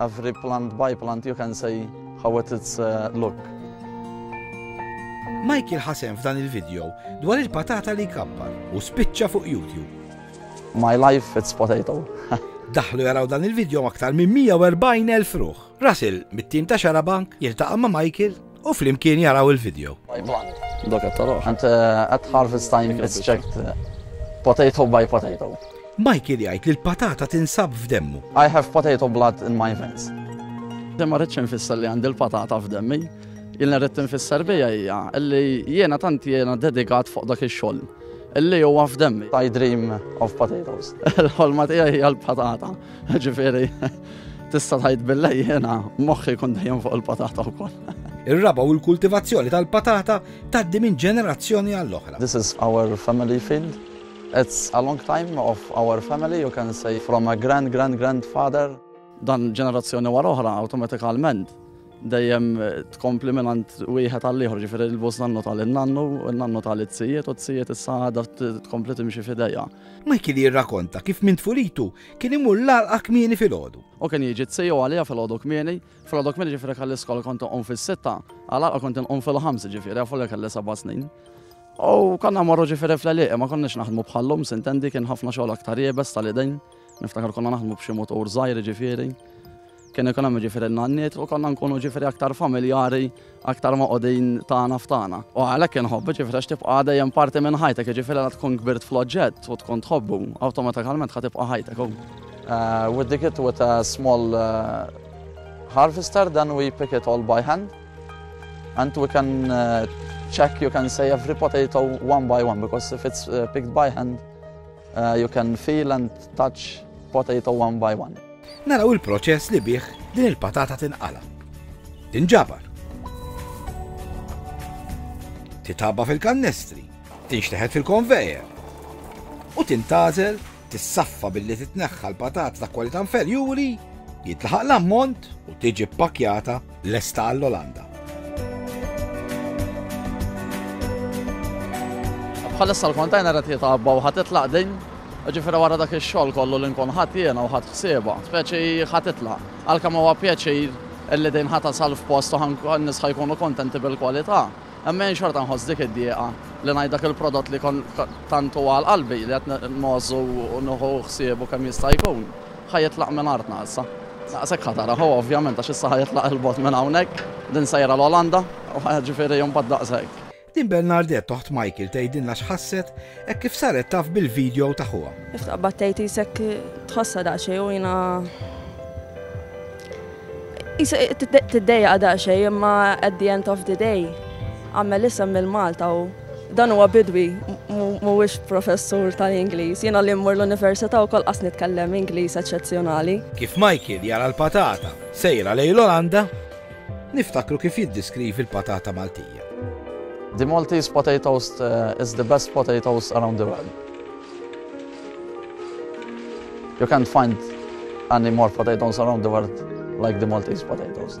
Every plant by plant you can say how it is uh, look. Michael ħasem f'dan il-video dwar il-patata li kappar u spiċċa fuq YouTube. My life it's potato. Daħlu jaraw dan il-video aktar minn 140,000 ruħ. Russell, mit-tim ta' Xarabank, jiltaqa' ma' Michael u flimkien jaraw il-video. And uh, at harvest time it's checked uh, potato by potato. Michael jgħid li l-patata tinsab f'demmu. I have potato blood in my veins. Demma rridx infisser li għandi l-patata f'demmi. Jilna rrid infisser bija hija li jiena tant jiena dedikat fuq dak ix-xogħol. Illi huwa f'demmi. I dream of potatoes. Il-ħolma tiegħi hija l-patata. Ġifieri. Tista' tgħid bilha jiena moħħi jkun dejjem fuq il-patata wkoll. Ir-raba u l-kultivazzjoni tal-patata tgħaddi minn ġenerazzjoni għall-oħra. This is our family field. It's a long time of our family, you can say from a grand grand grand father. Dan ġenerazzjoni wara oħra awtomatikalment dejjem tkompli minn għand wieħed għal ieħor ġifieri l-bus nannu tal nannu nannu tal it-sijiet u t-sijiet issa għadha tkompli timxi f'idejja. Michael jirrakonta kif minn tfulitu Kien imur l-għalqa kmieni filgħodu. U kien jiġi t-siju għalija filgħodu kmieni, filgħodu kmieni ġifieri kelli skola kont inqum fis-sitta, għalqa kont inqum fil-ħamsa ġifieri għafu li kelli seba' snin. U konna morru ġifieri fl-għalieq, ma konniex naħdmu bħallum, sintendi kien ħafna xogħol aktar jebes tal-idejn, niftakar konna naħdmu b'xi motor żgħir ġifieri. Kien ikun hemm jiġifieri n-nanniet u konna nkunu jiġifieri aktar familjari, aktar moqogħdin tagħna f'tagħna. U għalhekk inħobb jiġifieri għax tibqa' dejjem parti minn ħajtek, jiġifieri la tkun kbirt fl-oġġett u tkun tħobbu, awtomatikalment ħa tibqa' ħajtek hu. We dig it with a small harvester then we pick it all by hand and we can check you can say every potato one by one because if it's picked by hand Uh, you can feel and touch potato one by one. Naraw il-proċess li bih din il-patata tinqala. Tinġabar. Titaba fil-kannestri, tinxteħet fil-konvejer. U tintazel, tissaffa billi titneħħa l-patat ta' kwalità inferjuri, jitlaħaq l-ammont u tiġi pakjata Lesta għall-Olanda. Bħalissa l-kontajner qed jitgħabba u ħadd itlaq din Ġifiri wara dak ix-xogħol kollu li nkun ħadd jiena u ħadd ħsieba, speċi ħadd itlaq. Għalkemm huwa pjaċir illi din ħata salf post u nisħa jkunu kontenti bil-kwalità. Imma jien xorta nħoss dik id-dieqa li ngħid dak il-prodott li kon tantu għal qalbi li qed nmożżu u nħu ħsiebu kemm jista' jkun. Ħa jitlaq minn artna issa. Daqshekk ħa tara, hu ovvjament għax issa ħa jitlaq 'il bogħod minn hawnhekk, din sejra l-Olanda, u ħa jiġifieri imbagħad daqshekk. Din Bernardette oħt Michael tgħidilna x'ħasset hekk kif saret taf bil-video ta' ħuha. Kif taqbad tgħid qisek tħossha daqsxejn u jiena qisek tiddejjaq daqsxejn imma at the end of the day għamel isem lil Malta u Dan huwa bidwi, mhuwiex professur tal-Ingliż. Jiena li mmur l-università wkoll qas nitkellem Ingliż eċċezzjonali. Kif Michael jara l-patata sejra lejn l-Olanda, niftakru kif jiddeskrivi l-patata Maltija. The Maltese potatoes is the best potatoes around the world. You can't find any more potatoes around the world like the Maltese potatoes.